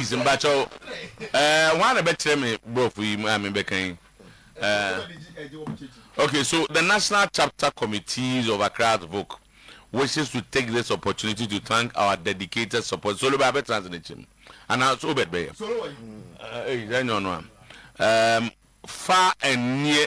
Please mpakyɛw eh, hwan na bɛkyerɛ me brɔfo yi a mebɛka yi eh. Okay, so the National Chapter Committees of Accra Advoc wishes to take this opportunity to thank our dedicated support. Solo bɛ abɛtena ase n'akyi mu anaa so obɛt bɛyɛ. Ɛyi sɛ nyɛ ɔno a. Um, far and near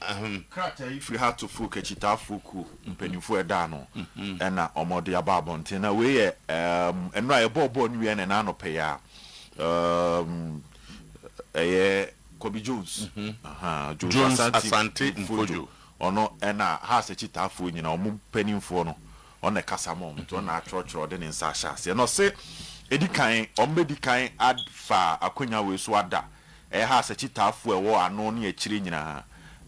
Ahem. Krataa yi firi Hatofo Kakyitafoɔ kuo mpaninfoɔ ɛda ano ɛna wɔde aba abɔnten na wei yɛ ɛɛmm nnora yɛbɔɔ bɔɔl no wie na ɛna anɔpɛ yi ara ɛɛmm ɛyɛ Kobi Jones ahaa Jones Asante Mfodjo ɔno ɛna Haas Akyitaafoɔ nyinaa wɔn mpaninfoɔ no ɔna ɛkasa ma wɔn nti ɔna atwerɛtwerɛ ɔde ne nsa ahyɛ aseɛ na ɔse ɛdi kan wɔn bɛdi kan afa akwanya wei so ada Ɛha asakyitaafo a ɛwɔ ano ne akyire nyinaa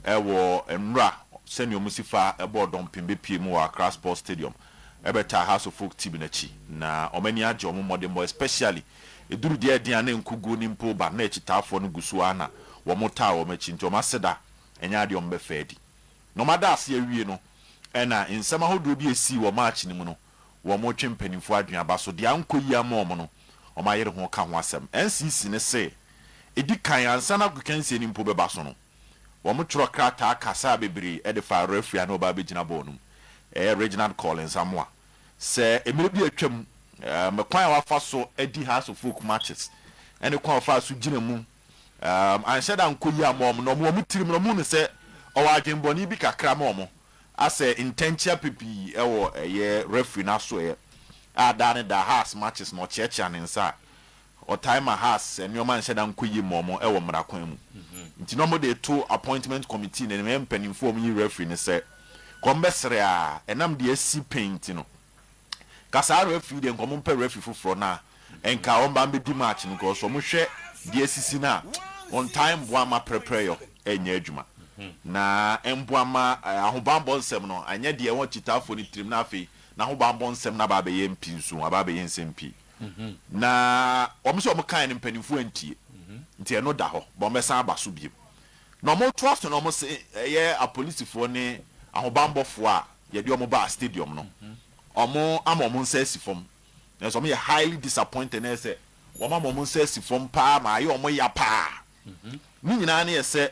wɔ nwura sɛnea wɔsi fa bɔɔ dɔmpem bepue mu wɔ Accra Sports Stadium bɛtaa House of Oak team no akyi na wɔn ani agye wɔn mmɔdenbɔ especially ɛduru deɛ ɛden a na nkuguo no mpo ba na akyitaafoɔ no gu so ara na wɔtaa wɔn akyi nti wɔn aseda ɛnyɛ adeɛ a wɔbɛfa adi. Na wɔada ase awie no ɛna nsɛm ahodoɔ bi a ɛsii wɔ match no mu no. wɔretwe mpaninfoɔ adwene aba so de ankɔ yie ama wɔn no, wɔayere ho ka ho asɛm. NCC no se, ɛdi kan ansa na agokansie no mpo bɛba so no, wɔtwerɛ krataa kasaa bebree de faa referee a na ɔba abɛgyina bɔɔl no mu, ɛyɛ Reginald Collins Amoah, sɛ mmerɛ bi a atwam, kwan a wafa so adi House of Oak matches ne kwan a ɔfaa so gyina mu annhyɛ da ankɔ yie amma wɔn, na wɔn wɔ wɔn tirim no, wɔhu no sɛ ɔwɔ adwenbɔne bi kakra ma wɔn, asɛ ntɛnkyea pipii wɔ ɛyɛ referee no asoɛeɛ a daa ne daa Haas matches no ɔkyeakyea ne nsa a, ɔtae ma Haas nneɛma nhyɛ da nkɔ yie mma wɔn wɔ mmara kwan mu. Nti na wɔde reto appointment committee no, ɛyɛ mpanimfoɔ a wɔyi referee no sɛ, kɔmbɛsrɛ a, ɛnam deɛ asi pɛn nti no, Nka saa referee yi deɛ nka ɔmo mpɛ referee foforɔ na nka ɔmba mbɛdi match no cos ɔmo hwɛ deɛ asisi no a ɔntaa mboa mma prɛprɛyɔ nyɛ adwuma na mboa mma ahobanbɔ nsɛm no anyɛ deɛ ɛwɔ Kyitaafoɔ no tirim na afei n'ahobanbɔ nsɛm no aba abɛyɛ mpinsu aba abɛyɛ nsɛm pii na ɔmo sɛ ɔmo kaeɛ no mpaninfoɔ antie nti ɛno da hɔ but ɔmo bɛsan aba so biom Na wɔtoa so na wɔse ɛyɛ apolisifoɔ ne ahobanbɔfoɔ a yɛde wɔn baa stadium no, wɔn ama wɔn nsa asi fam. Nanso wɔn yɛ highly disappointed na ɛsɛ wɔn ama wɔn nsa asi fam paa ma ayɛ wɔn ya paa. Ne nyinaa ne ɛsɛ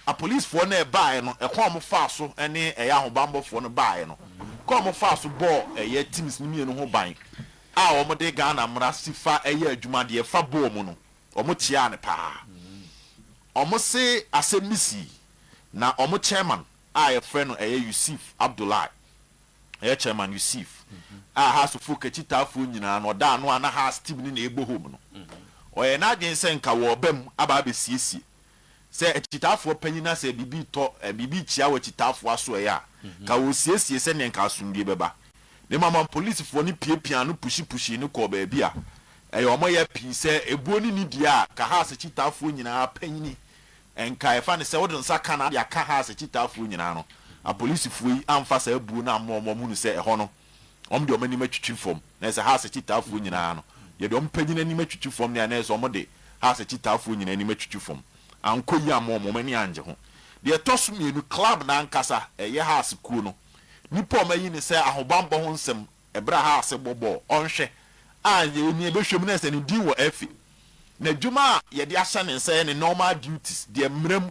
apolisifoɔ no a ɛbaaɛ no ɛkwan a wɔn faa so ne ɛyɛ ahobanbɔfoɔ no baaɛ no kwan a wɔn faa so bɔɔ ɛyɛ teams no mmienu ho ban a wɔn de Ghana mmara si fa ɛyɛ adwuma deɛ ɛfa bɔɔl mu no wɔn kyeaa no paa. Wɔse asɛm bi sii na wɔn chairman a yɛfrɛ no ɛyɛ Yusif Abdullahi, ɛyɛ chairman Yusif a Haas foɔ kakyitaafoɔ nyinaa no ɔda ano a na Haas team no na ɛbɔ home no, ɔyɛɛ n'adwene sɛ nka wɔreba mu aba abɛsiesie sɛ akyitaafoɔ panyin no asɛ biribi retɔ, biribi rekyea wɔ akyitaafoɔ asoɛeɛ a, nka wɔresiesie sɛdeɛ nka asomdwoeɛ bɛba. Ne mmom polisifoɔ no piapiaa no puhyi puhyii no kɔɔ baabi a Ɛyɛ wɔn ya pii sɛ ebuo ne nidie a Kahars akyitaafoɔ nyinaa panyini nkae fa ne sɛ wode nsa ka na ade aka Hars akyitaafoɔ nyinaa no, apolisifoɔ yi amfa saa buo no ammɔ wɔn a wɔhunu sɛ ɛhɔ no wɔde wɔn anim atwitwi fam na ɛsɛ Hars akyitaafoɔ nyinaa no yɛde wɔn panyini anim atwitwi fam na ɛsɛ wɔde Hars akyitaafoɔ nyinaa anim atwitwi fam ankɔ yie amma wɔn, wɔn ani angye ho. Deɛ ɛtɔ so mmienu, club no ankasa, ɛyɛ Hars kuo no nnipa a wɔayi no sɛ ahobammɔ ho nsɛm Ɛberɛ a Haase bɔbɔɔ ɔnhwɛ a nea ɔni ɛbɛhwɛ mu no sɛ ne din wɔ afi. N'adwuma a yɛde ahyɛ ne nsa yɛ ne normal duties, deɛ mmara mu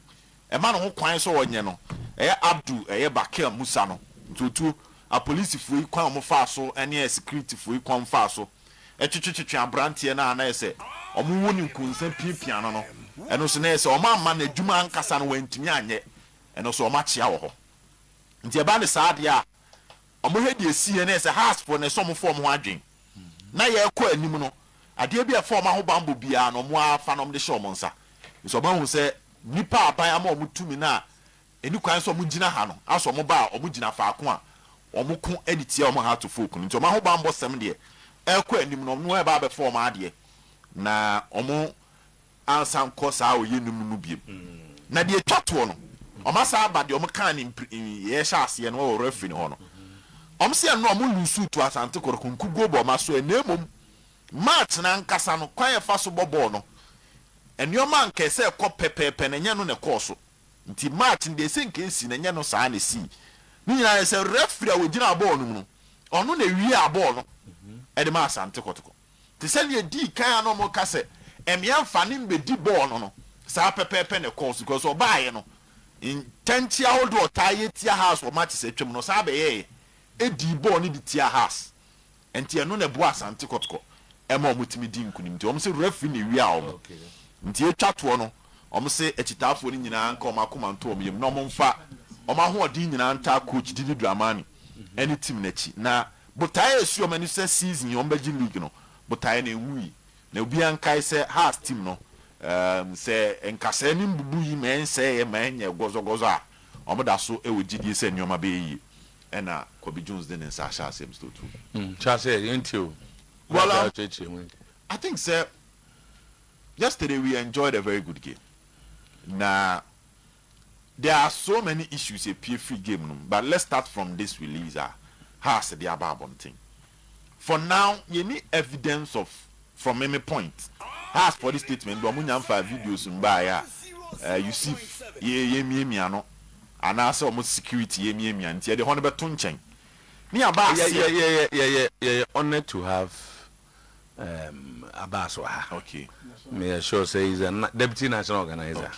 ɛma no ho kwan sɛ ɔnyɛ no. Ɛyɛ Abdul ɛyɛ Bakir Musa no ntuotuo. Apolisifoɔ yi kwan a wɔfaa so ne asikiritifoɔ yi kwan a wɔfaa so twetwetwetwe aberanteɛ no a na ayɛ sɛ wɔwo no nkonsa piapia no no, ɛno nso na ayɛ sɛ wɔamma n'adwuma ankasa no wantumi anyɛ, ɛno nso wɔakyea wɔ hɔ. Nti ɛba no saa deɛ a, Wɔn hɛ deɛ ɛsiiɛ no yɛ sɛ Hasfoɔ no ɛsɛ wɔn fa wɔn ho adwen na yɛrekɔ anim no adeɛ bi a ɛfa wɔn ahobanbɔ biara no wɔn ara fa na wɔde hyɛ wɔn nsa nti wɔn ahu sɛ nnipa a aban ama wɔn tumi no a ɛni kwan sɛ wɔn gyina ha no asɔ wɔn ba a wɔn gyina faako a wɔn ko de tia wɔn Hato folk no nti wɔn ahobanbɔ sɛm deɛ ɛrekɔ anim no wɔn ɛreba abɛfa wɔn adeɛ na wɔn ansa nkɔ saa ɔyɛ no mu no biom. Na deɛ ɛtwa toɔ no, wɔasan aba deɛ wɔkaa no mpre yɛɛ hyɛ aseɛ no wɔ referee no hɔ no. Wɔse ɛno no wɔn loosuu to Asante Kotoko nkuguo bɔ wɔn asoɛ na mmom match no ankasa no kwan a ɛfa so bɔ bɔɔl no nneɛma a nka ɛsɛ ɛkɔ pɛpɛɛpɛ no ɛnyɛ no na ɛkɔɔ so nti match no deɛ ɛsɛ nka ɛsi no ɛnyɛ no saa na ɛsii. Ne nyinaa ne sɛ referee a ɔgyinaa bɔɔl no mu no ɔno na ɛwiaa bɔɔl no de maa Asante Kotoko. Te sɛ nea edii kan a na wɔreka sɛ mmea mfa ne mmedi bɔɔl no no, saa pɛpɛɛpɛ na ɛkɔɔ so because ɔbaeɛ no, ntɛnkyea ahodoɔ a ɔtaa yɛ tia Haas wɔ matches a atwam no, ɔsan bɛyɛeɛ dii bɔɔl no de tiaa Haas. Enti ɛno na ɛboaa Asante Kɔtɔkɔ ma wɔtumi dii nkunim. Enti wɔn se referee na ewiaa wɔn. Enti yɛtwa toɔ no, Wɔse akyitaafoɔ no nyinaa nka wɔn akoma nto wɔn yam na wɔmfa wɔn ahoɔden nyinaa ntaa coach Didi Dramani ne team no akyi. Na botaeɛ a ɛsi wɔn ani sɛ season yi wɔbɛgye league no, botaeɛ no ɛnwui. Na obiara nkae sɛ Hearts team no, sɛ nkasɛɛ ne mbubu yi ma ɛnsɛeɛ ma ɛnyɛɛ gɔzɔgɔzɔ a, wɔda so wɔ gyidie sɛ nneɛma bɛyɛ yie. Ɛna Kobe Jones de ne nsa ahyɛ aseɛ Mister Otuo. Nkyɛ aseɛ yɛntie o. Well um, I think sɛ. Yesterday we enjoyed a very good game na there are so many issues epue firi game no mu but let's start from this release a Hearts de aba abɔnten. For now yɛnni evidence of from meme point Heartsfoɔ de statement baa wɔn nya mfaa videos mbaeɛ a eh, Yusuf yɛ yɛmiamia no anaa sɛ wɔn security yɛmiamia nti yɛde hɔ no bɛto nkyɛn ne yɛaba aseɛ. Yɛyɛ yɛyɛ yɛyɛ honoured to have Abass wɔ ha. Meyɛ sure sɛ he's a deputy national organizer.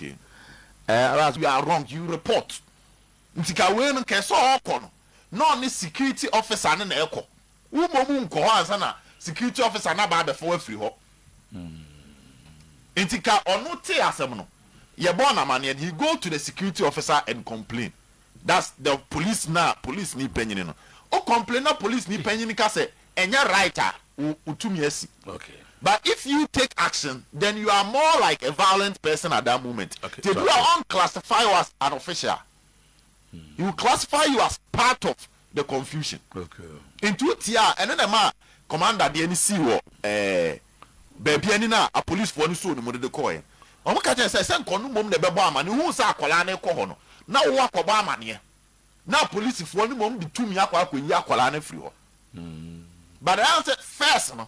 Eh, Abass, you are wrong, you report. Nti ka wei no, nka sɛ ɔɔkɔ no, na ɔne security officer no na ɛɛkɔ. Wo mmom nkɔ hɔ ansa na security officer no aba abɛfa wo afiri hɔ. Nti ka ɔno tee asɛm no, yɛbɔɔ no amaneɛ no, he go to the security officer and complain. That's the police na police ni panyini no o complain na police ni panyini ka sɛ ɛnyɛ right a wo tumi asi but if you take action then you are more like a violent person at that moment nti ebi wɔ a ɔn classify wo as an official he will classify you as part of the confusion nti wo tie a ɛno na ɛma commander deɛ no sii wɔ ɛɛ baabi ani no a apolicefoɔ no soo no mu de de kɔɔɛ no wɔn ka kyerɛ sɛ sɛ nka ɔno mmom na ɛbɛbɔ amaneɛ ohuu sɛ akwadaa no rekɔ hɔ no na wo akɔbɔ amaneɛ na apolicefoɔ no mmom de tumi akɔ akɔyi akwadaa no afiri hɔ but ɛyɛ sɛ first no.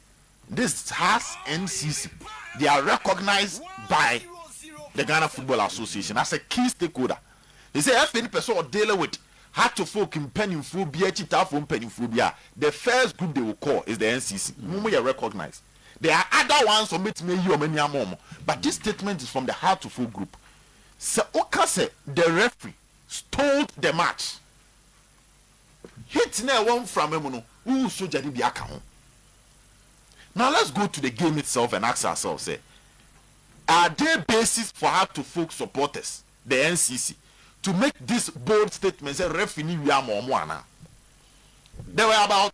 This has NCC, they are recognised by the Ghana Football Association as a key stakeholder. They say FA no pɛ sɛ ɔ deal with Hartlefolk mpanimfoɔ bi, akyitaafoɔ mpanimfoɔ bi a, the first group they will call is the NCC. Wɔn yɛ recognised. There are other ones a wɔbɛtumi ayi wɔn ani ama wɔn, but this statement is from the Hartlefolk group. Sɛ woka sɛ the referee stole the match Heat no a ɛwɔ mframa mu no, wohu sogya no bi aka ho. Now let's go to the game itself and ask ourselves sɛ, Are there basis for her to folk supporters, the NCC, to make this bold statement sɛ referee no wia ama wɔn anaa? There were about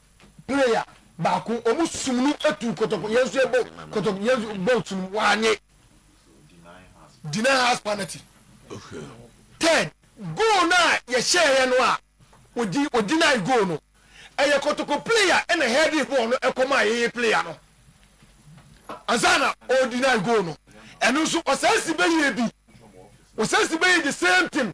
player baako ɔmo sum no etu kɔtɔkɔ yɛn nso ɛbɔ kɔtɔkɔ yɛn nso bɔ nsu no wanye deny us penalty third goal no a yɛhyɛ yɛ no a odi odeny goal no ɛyɛ kɔtɔkɔ player ɛna heading bɔɔl no ɛkɔma yɛyɛ player no ansa na ɔdeny goal no ɛno nso ɔsan si bɛyɛ bi ɔsan si bɛyɛ the same thing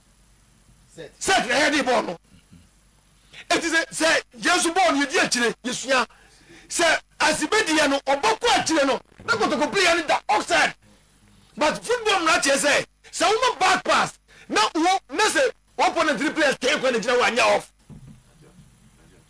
Set na yɛde bɔɔ no. Enti sɛ sɛ Yesu bɔɔ no yɛdi akyire yɛsua sɛ asibediɛ no ɔbɔ kɔ akyire no na kotoko playɛ no da offside but football mmara kyerɛ sɛ sɛ woma back pass na wo na sɛ opponent no players ten kwan na gyina hɔ a nyɛ off.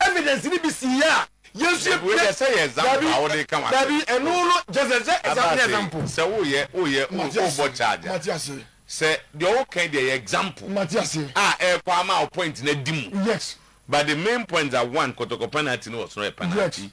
evidence no bi si yɛ a yɛn nso yɛ pɛ dabi dabi ɛno no gyesɛ sɛ example ne example sɛ wo yɛ wo yɛ wo bɔ charge a sɛ deɛ wo kan deɛ yɛ example a ɛkɔ ama wo point no adi mu but the main point that one kɔtɔkɔ penalty no wɔ soro yɛ penalty.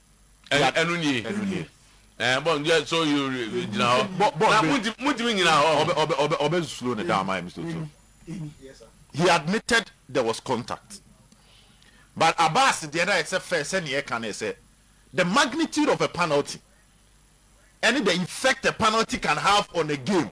Ɛn, ɛno nie. Ɛno nie. Ɛn, bɔ, yɛ, so yi, gyina hɔ. Bɔ, bɔ, Na bɛ- montumi, montumi nyina hɔ. Ɔbɛ, ɔbɛ, ɔbɛ, ɔbɛ slow ne down, my Mr. Otu. He admitted there was contact. But Abass deɛ na yɛ sɛ fɛ, sɛ neɛ ɛka ne sɛ, the magnitude of a penalty, ɛne the effect a penalty can have on a game.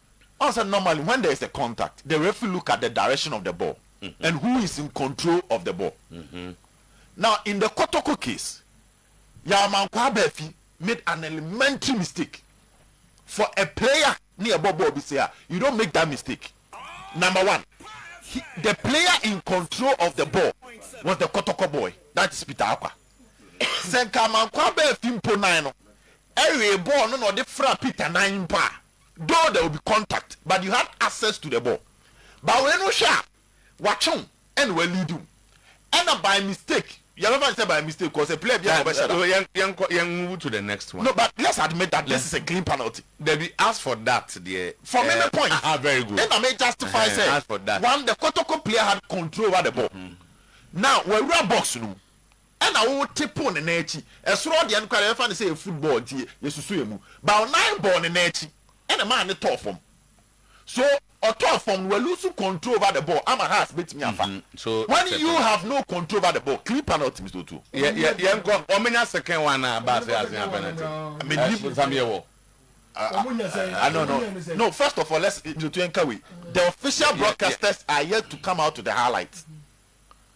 Ɔn sɛ normally when there is a contact the referee look at the direction of the ball and who is in control of the ball. Now in the Kotoko case, Yaw Mankwah Baafi made an elementary mistake. For a player ne ɛbɔ bɔɔl bi sei a, you don't make that mistake. Number one, he, the player in control of the ball was the Kotoko boy, that is Peter Akwa. Sɛ nka Mankwah Baafi mpo nan no ɛwee bɔɔl no na ɔde fra Peter nan mpo a, Though there will be contact but you had access to the ball but wei no wohwɛ a watwe wo ɛna waleadi wo ɛna by mistake yɛbɛfa no sɛ by mistake cause player biara na ɔbɛhyɛ da. Yɛnkɔ yɛn move to the next one. No but let's admit that this is a clean penalty. Dabi as for that deɛ. For me me point. Aha very good. Ɛna me justify sɛ. As for that. One the Kotoko player had control over the ball. Now wawura box no mu Ɛna wo te po ne nan akyi. Ɛsoro hɔ deɛ nokware yɛfa no sɛ yɛ football nti yɛ yɛ susu yɛ mu. But wo nan bɔɔ ne nan akyi ɛna ɛmaa ne tɔɔ fam. So ɔtɔɔ fam no wa lose control over the ball ama Haas bɛtumi afa. When you have no control over the ball clean penalty Mister Otuo. Yɛ yɛ yɛnkɔ wɔmenya second one na aba ase asenya penalty. Ɛɛ bonsam yɛ wɔ. Ah no no no first of all let's Mister Otuo yɛnka wei the official broadcasters are yet to come out to the highlight.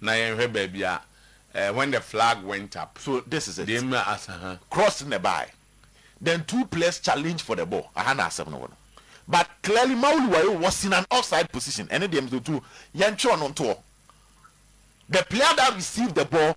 Na yɛnhwɛ baabi a ɛɛ when the flag went up. So this is it. Deɛ mma asa ha. Cross na ɛbaeɛ. Then two players challenged for the ball. Aha na asɛm no wɔ no. But clearly Mauli Wayo was in an offside position. Ɛno deɛ me so tu. Yɛntwerɛ no ntoɔ. The player that received the ball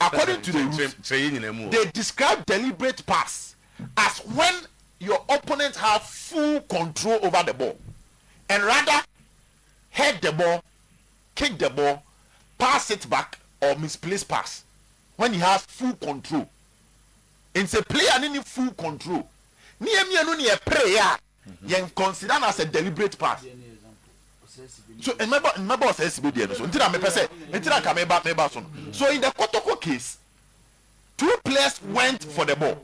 According to the rules, they describe deliberate pass as when your opponent have full control over the ball and rather head the ball, kick the ball, pass it back or misplace pass when he has full control. Nti sɛ player no nni full control ne yɛn mmienu na yɛperee a, yɛn consider no as a deliberate path so mmɛba mmɛba ɔsɛsi bɛ deɛ no so nti na mepɛ sɛ nti na nka meba meba so no so in the kotoko case two players went for the ball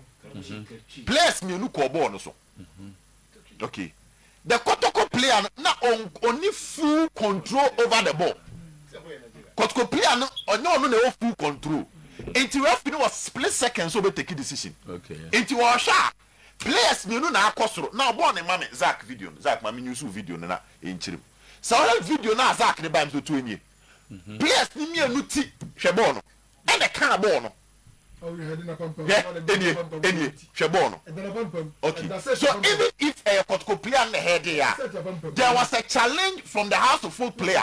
players mmienu kɔɔ bɔɔl no so okay the kotoko player no na on ɔni full control over the ball kotoko player no ɔnyɛ ɔno na ɛwɔ full control nti referee no wɔ split seconds so ɔbɛ take decision okay nti ɔhwɛ a. Players mmienu na akɔ soro na ɔbɔɔ ne mame Zack video no Zack mame newsuu video no na ɛnkyerɛ mu sɛ ɔhwɛ video no a Zack de bae no sɛ otuo nie Players no mmienu ti hwɛ bɔɔl no ɛna ɛkaa bɔɔl no hwɛ ɛnie ɛnie hwɛ bɔɔl no okay so even if ɛyɛ kɔtɔkɔ player na ɛhɛɛdee a there was a challenge from the house of folk player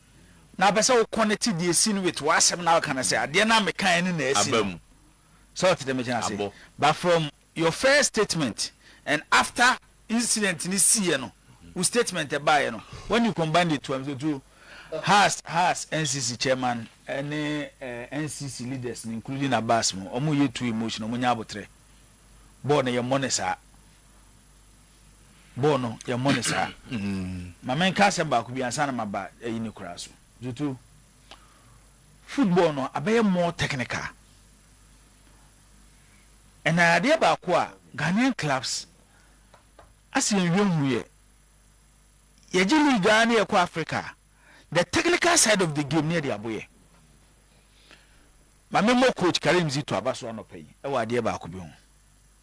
Na wopɛ sɛ wo connect deɛ asi no with w'asɛm na woka no sɛ adeɛ no a mekaeɛ no na asi no. Sɛ wote dɛm agyina ase. But from your first statement and after incident no siiɛ no wo statement ɛbaeɛ no when you combined the two am sɛ to has has NCC chairman ne eh, NCC leaders no including Abbas mo wɔn yɛ too emotional wɔn nyɛ abotrɛ bɔɔl no yɛ mmɔ no saa. bɔɔ no yɛmmɔ no saa ma menka asɛm baako bi ansa na maba ayi ne koraa so tutu football no abɛyɛ more technical ɛna adeɛ baako a Ghanaian clubs asɛ yɛnhwɛ hu yɛ yɛgye league a ne yɛkɔ Africa the technical side of the game ne yɛde aboyɛ ma memmɔ coach Karim Zito aba so anɔpa yi ɛwɔ adeɛ baako bi ho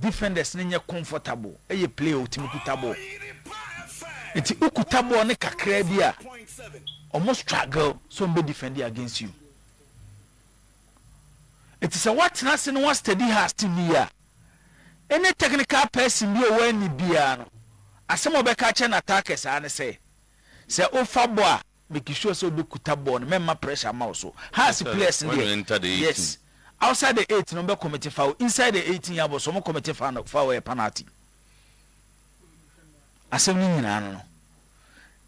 Defenders no nyɛ comfortable, ɛyɛ player a ɔtumi kuta ball, nti wo kuta ball no kakraa bi a, wɔn struggle sɛ wɔn bɛ defend against you. Nti sɛ woatena ase na woastudy has team no yie a, any technical person bi a ɔwɔ ani biara no, asɛm a ɔbɛka akyerɛ n'attackers ara ne sɛ, sɛ wofa bɔ a, Make sure sɛ wobɛkuta bɔɔl no, mɛmma pressure mma wo so. Hearts players no deɛ, yes. Outside the eight no wɔbɛ commit foul, inside the eighteen yard box wɔn commit foul, foul yɛ penalty. Asɛm no nyinaa no no.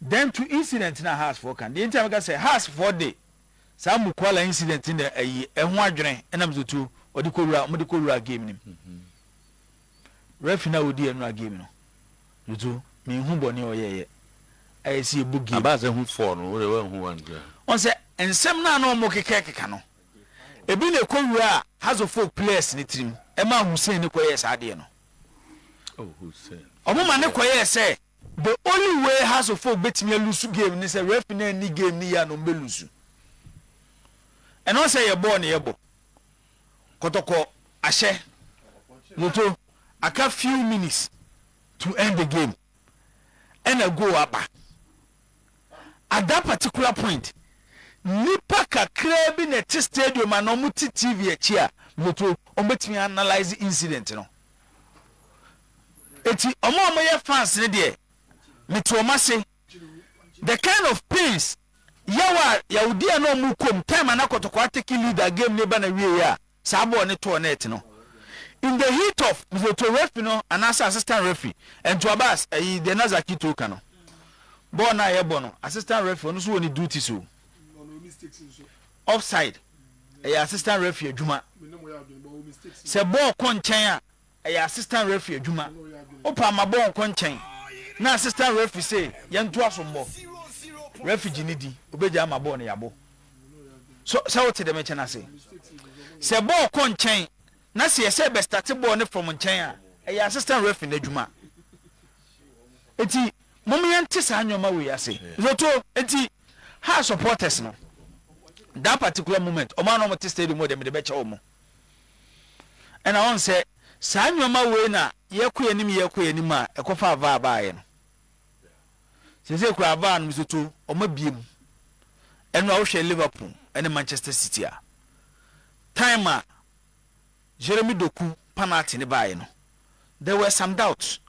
Then to incident na Hearts foɔ kan, deɛ nti a mɛka sɛ Hearts foɔ de saa Mukwala incident no ayi ɛho adwene ɛnam so tuo wɔde kɔwura, wɔde kɔwura game no mu. Refi no a ɔdii anura game no dodo menhu bɔne a ɔyɛeɛ a ɛsi yɛbɔ game. Abaa sɛ hu fɔɔ no wode wanhu one koraa. Wɔn sɛ nsɛm no a na wɔn keka keka no ebi na ɛkɔ wuraa Hazofoɔ players no tirim ɛmaa Hussein no kɔyɛɛ saa adeɛ no. Wɔn ma no kɔyɛɛ sɛ the only way Hazofoɔ bɛtumi alusu game no sɛ refi no anni game no yie a na wɔn bɛlusu. Ɛno sɛ yɛbɔɔ no yɛbɔ. Kɔtɔkɔ ahyɛ no to aka few minutes to end the game ɛna goal aba. At that particular point nnipa kakraa bi na ɛte stadium anaa wɔn te TV akyi a metoto wɔn bɛtumi analyse incident no. Eti wɔn a wɔyɛ fans no deɛ mete wɔn ase The kind of pains yaw a yawdi a na ɔmo kɔ mu time a na Kɔtɔkɔwa teke lead a game no ba na wiei a saa bɔɔl no tɔɔ net no in the heat of Mzoto referee no anaasɛ assistant referee Ntuabas ɛyi deɛ na Zaki Tour ka no bɔɔl no a yɛbɔ no assistant referee ɔno nso wɔ ne duties o offside ɛyɛ assistant referee adwuma sɛ bɔɔl kɔ nkyɛn a Ɛyɛ assistant referee adwuma. Wo paa ma bɔɔl nkɔ nkyɛn na assistant referee se yɛn to aso mbɔ. Referee gye ne di, obegyae ama bɔɔl no yabo. So sɛ wo te dɛm nkyɛn ase? Sɛ bɔɔl kɔ nkyɛn na se yɛsɛ bɛ starte bɔɔl no from nkyɛn a, ɛyɛ assistant referee n'adwuma. Enti mom yɛn te saa nnoɔma wei ase. Zoto enti Hearts supporters no, that particular moment, ɔmo a na ɔmo te stadium hɔ deɛ mede bɛkyɛ ɔmo. Ɛna wohu sɛ saa nnoɔma wei na yɛkɔ yɛn anim yɛkɔ yɛn anim a ɛkɔfaa vaa baeɛ no. Seesei koraa vaa no nso to wɔn abie mu. Ɛno a wohwɛ Liverpool ne Manchester City a, time a Jeremy Doku panalty no baeɛ no, there were some doubts.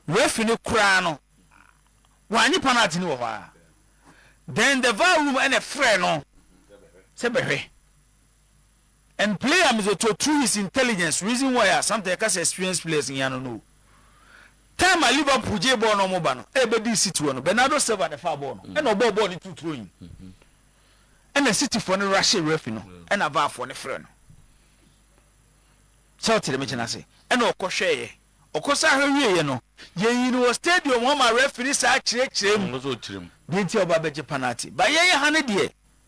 Referee no koraa no, wannye panalty no wɔ hɔ ara. Then the vaa room ɛna ɛfrɛɛ no sɛ bɛhwɛ. and play am is a to through his intelligence reason why a sometimes yɛka sɛ experienced players hia no no time a Liverpool gyee bɔɔl no ɔmo ba no ɛbɛdi City hɔ no Bernardo Silva na ɛfaa bɔɔl no mm. ɛna ɔbɔɔ bɔɔl no tu throwing mm-hmm. ɛna City fo no rashe refi no mm. ɛna VAR fo no frɛ no sɛ ɔtere me kyena ase ɛna ɔkɔhwɛeɛ ɔkɔsa ahwɛ wieɛ no yɛyi no wɔ stadium hɔ ma refi ne saa kyerɛkyerɛ mu deɛ nti ɔba bɛgye penalty ba yɛyɛ ha no deɛ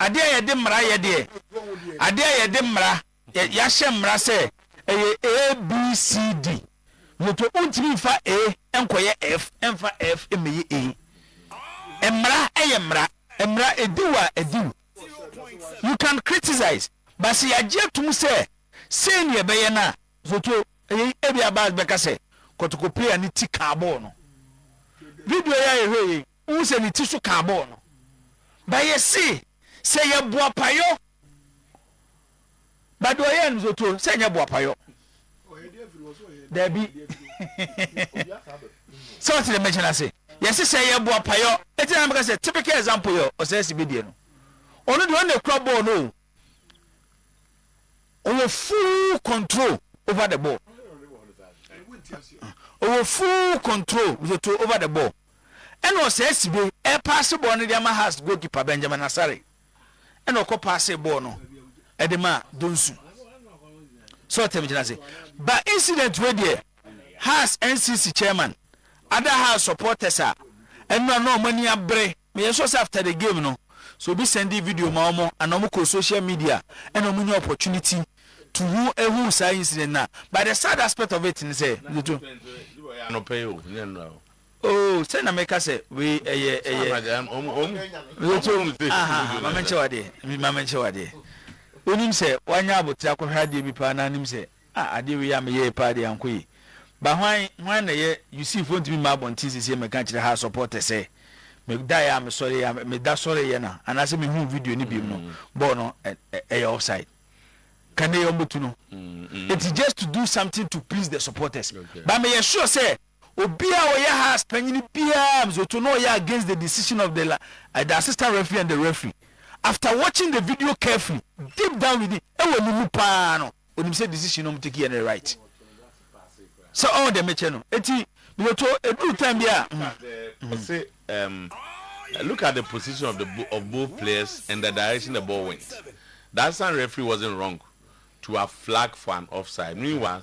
Adeɛ a yɛde mmara yɛ deɛ, adeɛ a yɛde mmara, yɛahyɛ mmara sɛ ɛyɛ A, B, C, D. Moto wontumi mfa A nkɔyɛ F, mfa F mmɛyɛ A. Mmara yɛ mmara, mmara ɛdi wo a ɛdi wo. You can criticize, but sɛ yɛagye atom sɛ sei ne yɛbɛyɛ no a, zoto ɛyɛ ebia bars bɛka sɛ kɔtɔkɔ player no ti kaa bɔɔl no. Video yi a yɛhwɛ yei. Wohu sɛ ne ti so kaa bɔɔ no. But yɛse sɛ yɛ boapayɔ but deɛ ɔyɛɛ no zoto sɛ nyɛ boapayɔ daabi sɛ ɔte dɛ mɛkyɛ no ase yɛse sɛ yɛ boapayɔ ɛti na mɛka sɛ typical example yɛ ɔsɛ si bɛdeɛ no ɔno deɛ ɔne kura bɔɔl no o ɔwɔ full control over the ball ɔwɔ full control zoto over the ball ɛna ɔsɛe sibe, ɛrepaase bɔɔl no de ama Hearts goalkeeper Benjamin Asare, ɛna ɔkɔ paasee bɔɔl no de maa Donsu. Sɛ ɔtɛm gyina ase. Ba incident wei deɛ, Hearts NCC chairman ada Hearts supporters a ɛno na na wɔn ani abere. Meyɛ sure sɛ after the game no, sɛ obi sɛndee video ma wɔn anaa wɔn kɔɔ social media ɛna wɔn nya opportunity to hu ehu saa incident no a, but the sad aspect of it ne sɛ, Mr. Ɔyɛ anɔpa yi o, nyɛ nnora o. Oh, sɛ na meka sɛ wei ɛyɛ, ɛyɛ. Mekyɛ wɔn sɛ. Aha, ma menkyɛ wadeɛ, ma menkyɛ wadeɛ. Wonim sɛ wanya abotere akɔhwɛ adeɛ bi paa na anim sɛ, ah, adeɛ wei a meyɛɛ paa deɛ ankɔ yie. Ba hwan, hwan na ɛyɛ, you see, foɔ ntumi mma abɔnten sesie meka nkyerɛ ha supporters sɛ, medaeɛ a mesɔreeɛ a, meda sɔreeɛ no a, anaasɛ mehuu video no biom no, bɔɔl no ɛyɛ offside. Ka nnɛ yi wɔbɛtu no. Nti just to do something to please the supporters. Ba meyɛ sure sɛ. Obi a ɔyɛ Hearts panyin biara m's oto na ɔyɛ against the decision of the la eh the assistant referee and the referee. After watching the video carefully, deep down within, ɛwɔ ne mu paa no, onim sɛ decision na ɔmo take yɛ no yɛ right. Sɛ ɔɔ deɛ mekyɛ no. Enti me oto, eduru time bi a, mm, mm. Ɔse ehm, look at the position of the bo of both players and the direction the ball went. The assistant referee wasn't wrong to have flagged for an offside. Meanwhile,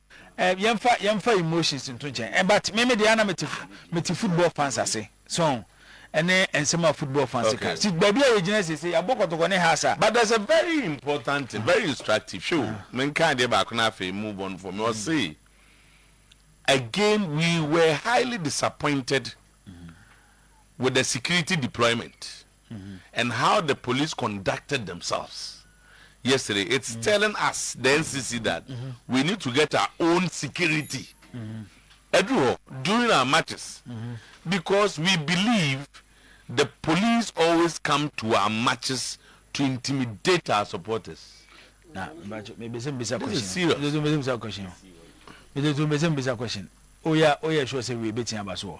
Eh yɛnfa yɛnfa emotions nto nkyɛn eh but me me deɛ ana mete mete football fans ase so ɛne nsɛm a football fans ka Okay. ti baabi a yɛgyina seesei yɛabɔ kɔtɔkɔ ne has a. But there's a very important thing, very instructive, hwɛ o, menka adeɛ baako na afei move on from, ɔse again we were highly disappointed with the security deployment. and how the police conducted themselves yesterday it's telling us the NCC that we need to get our own security ɛduru hɔ during our matches because we believe the police always come to our matches to intimidate our supporters. na mbacho me bese mbisa question this is serious me bese mbisa question me bese mbisa question oya oya sure say we betin aba so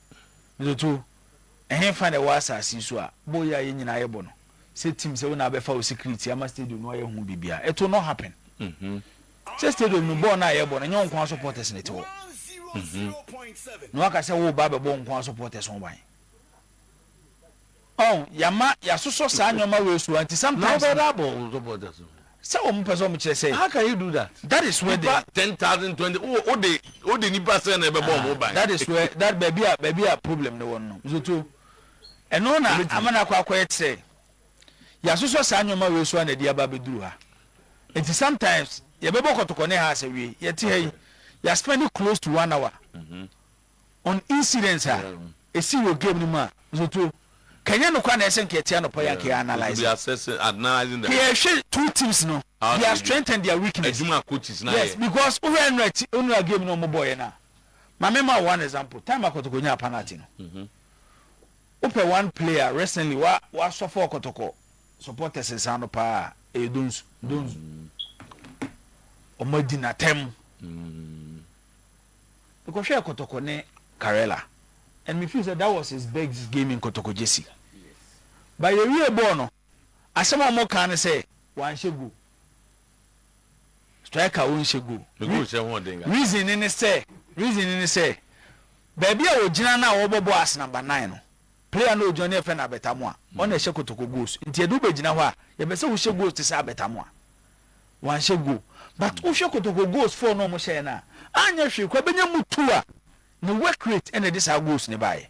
Dzoto, Hemfa na ɔwɔ asaase yi so a bɔ yi a yɛn nyinaa yɛbɔ no sɛ team sɛ wo na abɛfa wo security ama stadium no ayɛ ho biribiara, it will not happen. Sɛ stadium no bɔɔl no a yɛbɔ no nyɛ wo nko ara supporters na ɛte hɔ na woaka sɛ woreba abɛbɔ wo nko ara supporters ho ban. Ɔn, yɛama yɛasosɔ saa nneɛma wei so a nti sometimes no, sɛ wɔn pɛ sɛ wɔn kyerɛ sɛ, that is where the, that is where that baabi a baabi a problem no wɔ no no, Zoto, ɛno na ama no akɔ akɔyɛ te sɛ yɛasosɔ saa nneɛma wei so a na ɛde aba abɛduru ha. Nti sometimes yɛbɛbɔ kɔtɔkɔ ne ha asɛ wie, yɛte ha yi, yɛaspɛne close to one hour. on incidents a esii wɔ game no mu a nsoto ka ɛnyɛ nokware na ɛsɛ nka yɛte anɔpa yi a nka yɛ analyse nka yɛhwɛ two teams no their strength and their weakness yes because wo hwɛ nnora ti nnora game no ɔmo bɔɔyɛ no a ma me ma one example time a kɔtɔkɔ nyaa penalty no wo pɛ one player recently wa wa sɔfɔ kɔtɔkɔ supporters nsa no paa ɛyɛ donsu donsu ɔmo adi n'atɛm. mekɔhwɛɛ kɔtɔkɔ ne Karela and me feel sɛ that was his big game in kɔtɔkɔ gyesi but yɛwie bɔɔl no asɛm a wɔn kaa ne sɛ wanhyɛ goal striker ɔnhyɛ goal reason ne ne sɛ reason ne ne sɛ baabi a ɔgyina no a wɔbɔ bɔɔl as number nine no player no ɔgyina no yɛfɛ no abɛtamoa ɔna ɛhyɛ kɔtɔkɔ goals nti yɛde wobɛgyina hɔ a yɛpɛ sɛ wohyɛ goals te sɛ abɛtamoa Wanhyɛ goal but wo hwɛ Kotoko goals four no a ɔmo hyɛɛ no a anyɛ hwee koraa bɛnya mu two a ne work rate ɛna ɛde saa goals no baayɛ.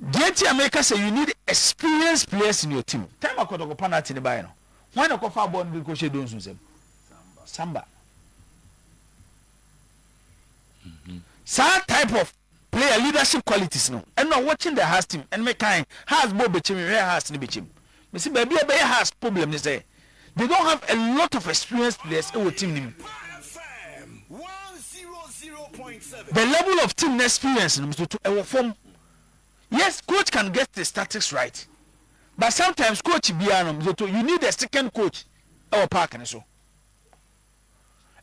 Deɛ nti a meka sɛ you need experienced players in your team time a Kotoko panalty no baayɛ no hwan na ɛkɔ faa bɔɔl no de kɔ hyɛɛ Donsu nsam? Samba. Saa type of. Player leadership qualities no ɛna watching the Hearts team and me kan Hearts bɔ bɛkyɛ me hwɛɛ Hearts no bɛkyɛ mu me se baabi a ɛbɛyɛ Hearts problem ne sɛ they don't have a lot of experienced players ɛwɔ team no mu. The level of team no experience no mesoto ɛwɔ fam yes coach can get the statics right but sometimes coach biara no mesoto you need a second coach ɛwɔ park no so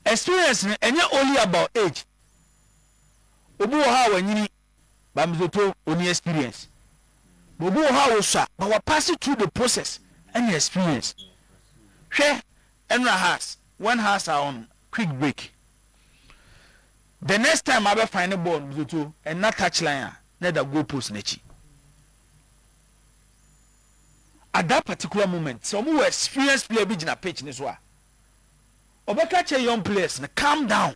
experience no ɛnyɛ only about age. Obi wɔ hɔ a wanyini but me toto ɔni experience. But obi wɔ hɔ a wɔsua but wa pass through the process ɛne experience. Hwɛ ɛnora has when has are on quick break the next time abɛ fine ne ball no me toto ɛnna touch line a na ɛda goal post n'akyi. At that particular moment sɛ wɔn wɔ experience player bi gyina pitch ne so a ɔbɛka kyerɛ young players no calm down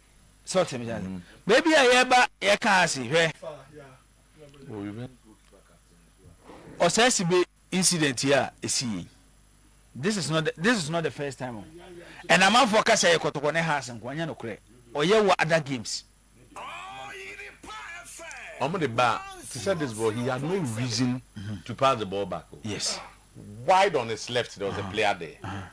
So ɔte me ase. Baabi a yɛba yɛka ase hwɛ. Ɔsɛsebe incident yi a ɛsii yi, this is not the, this is not the first time o. Ɛna amanfoɔ ka sɛ yɛ kɔtɔkɔ ne house nko, ɛnyɛ nokorɛ. Ɔyɛ wɔ other games. Ɔmo de ba te sɛ this ball, he had no reason to pass the ball back o. Yes. Wide on his left, there was a player there.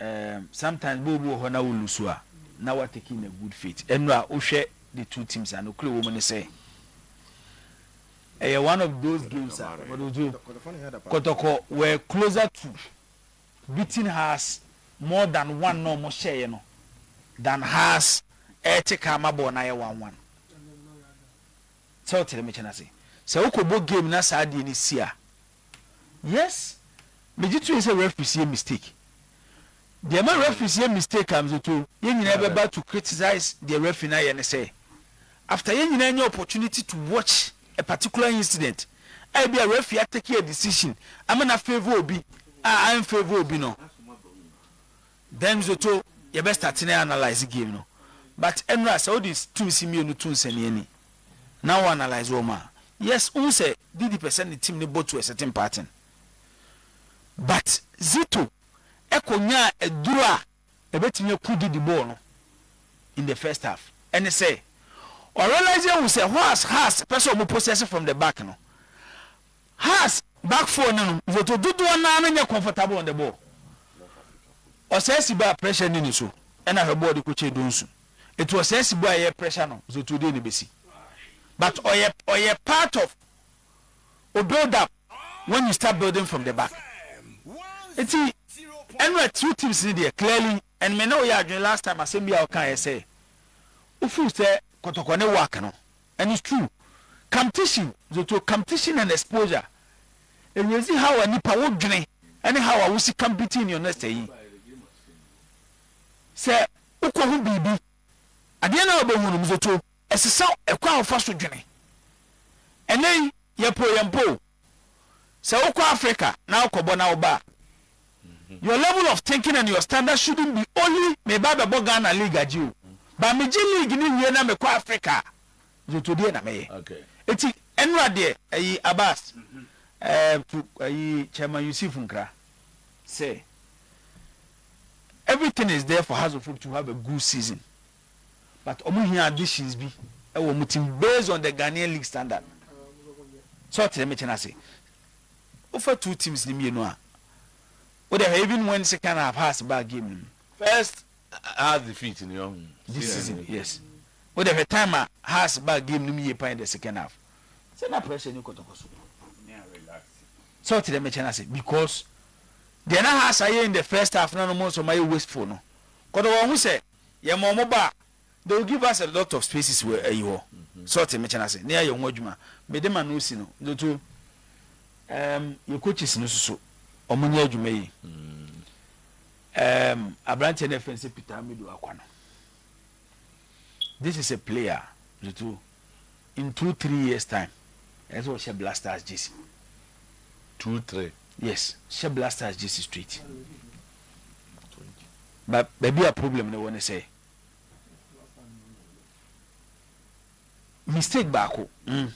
um sometimes bɛ obi wɔ hɔ na wo lose a na wa take in a good faith ɛnu a wo hwɛ the two teams a nokore wɔ mu ne sɛ ɛyɛ one of those games a kɔtɔkɔ were closer to beating Hearts more than one na ɔmo hyɛɛ no than Hearts ɛɛte ka ama bɔɔl no ayɛ one one sɛ wotere me kyɛn ase sɛ wokɔ bɔ game na saa deɛ no si a Yes megye to yɛ sɛ referees yɛ mistake deɛ ma referees yɛ mistake a megye to yɛn nyinaa bɛba to criticize deɛ referee no ayɛ ne sɛ after yɛn nyinaa nya opportunity to watch a particular incident a ebi a referee atake a decision ama na favour obi a an favour obi no then megye to yɛbɛ start ne analyze game no but ɛnora sɛ wode tum si mmienu to nsɛnniani. na wo analyse wɔn a, yes wohu sɛ Didi pɛ sɛ ne team no bɔ to a certain pattern but Zito kɔ nyaa aduru a ɛbɛtumi aku Didi bɔɔ no in the first half ɛne sɛ ɔrealise ahu sɛ hɔ as Haas pɛ sɛ wɔn possess from the back no Haas back four no nom Zito dodoɔ naa no nyɛ comfortable on the ball ɔsaa si baa pressure ni ne so ɛna hwɛ bɔɔl de kɔkyɛ Donsu. Eti ɔsɛɛsi boy a yɛ pressure no nso tuo deɛ na ebesi? But ɔyɛ ɔyɛ part of o build up when you start building from the back. Eti ɛno a trio teams no deɛ clearly and me ne wo yɛ adwene last time asɛm bi a ɔka yɛ sɛ wo feel sɛ kɔtɔkɔ ne work no and it's true competition zotuo competition and exposure erezi how a nipa wo dwene ɛne how a wo si compete in your next ɛyi Sɛ wokohu biribi, adeɛ no a wobɛhu no, medze to. Ɛsesa ɛkwan a wofa so dwene. Ɛnnɛ yi, yɛpo yɛn mpo o. Sɛ wokɔ Africa na wokɔbɔ na woba a, your level of thinking and your standard shouldn't be only meba abɛbɔ Ghana league agye o, but megye league no wie na mekɔ Africa a, medze to deɛ na mɛyɛ. Eti, ɛnora deɛ, ayi Abass, ɛɛ, to, ayi, Chairman Yusuf nkra. sɛ everything is there for Hazofo to have a good season but wɔn hia additions bi wɔ wɔn team based on the Ghanaian league standard sɛ ɔte dɛm kyɛn ase wofa two teams ne mmienu a wode ahwɛ even when second half has baa game no mu first half defeat ni ɔhu this season yes wode ahwɛ time a has baa game no mu yie pan the second half sɛ na pressure ni kɔtɔkɔ so Sɛ ɔte dɛ mɛkyɛ no ase because deɛ na Hasa yɛ in the first half na no mo nso mayɛ wasteful no kɔdɔ wɔn ho sɛ yɛ ma wɔn ba a they will give us a lot of spaces wɔ ayi hɔ sɛ ɔte mɛkyɛ no ase na yɛayɛ ho adwuma me de ma no si no dodo um, yɛ coaches no soso wɔn nyɛ adwuma yi um, aberanteɛ no ɛfɛn sɛ Peter Amido akwa no this is a player dodo. In two three years time ɛyɛ sɛ ɔhyɛ black stars jersey. two three. yes hyɛ black stars jersey straight but baabi a problem no wɔ ne sɛ mistake baako. Mm.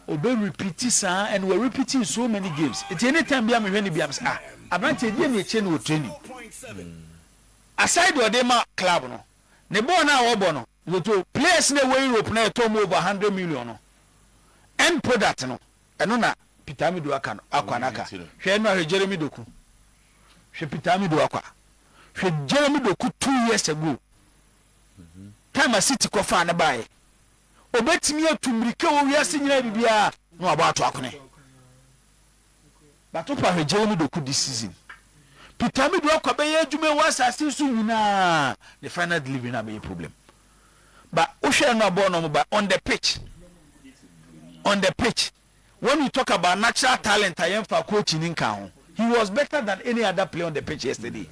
obe repeat saa and we repeat in so many games nti anytime bi a mehwɛ ne bi am sɛ ah aberante ɛdeɛ ne ɛkyɛ no wɔ training aside ɔde ma club no ne bɔɔl no a wɔbɔ no. Lotto players no a ɛwɔ Europe no a yɛtɔɔ mu over a hundred million no end product no ɛno na Peter Amidu aka no akwa no aka. Hwɛ ɛno a hwɛ Jeremy Doku, hwɛ Peter Amidu akwa, hwɛ Jeremy Doku two years ago time a City kɔ faa no baeɛ ɔbɛtumi atu mmirika wɔ wiase nyinaa biribiara na wabɔ ato akone. Batopa hwegyee no do ku this season Peter me do akɔ bɛyɛ edwuma wɔ asase yi so nyina ne final delivery na abɛyɛ problem but wo hwɛ no a bɔɔl na ɔmo ba on the pitch on the pitch when you talk about natural talent a yɛn fa coach ni nka ho he was better than any other player on the pitch yesterday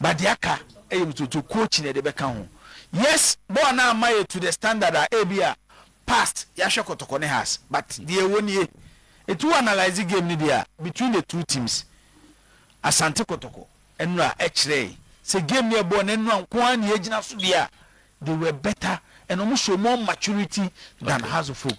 but deɛ aka ɛyɛ mtoto coach na ɛde bɛka ho yes bɔɔl na ama yɛ to the standard a ebi a past yɛahwɛ kɔtɔkɔ ne has but deɛ ɛwɔ nie nti wo analyse game no deɛ a between the two teams Asante kɔtɔkɔ ɛnora ɛkyerɛɛ sɛ game no ɛbɔɔ no ɛnora nko ara na yɛgyina so deɛ a they were better and wɔn hyɛ wɔn maturity than Hazofolk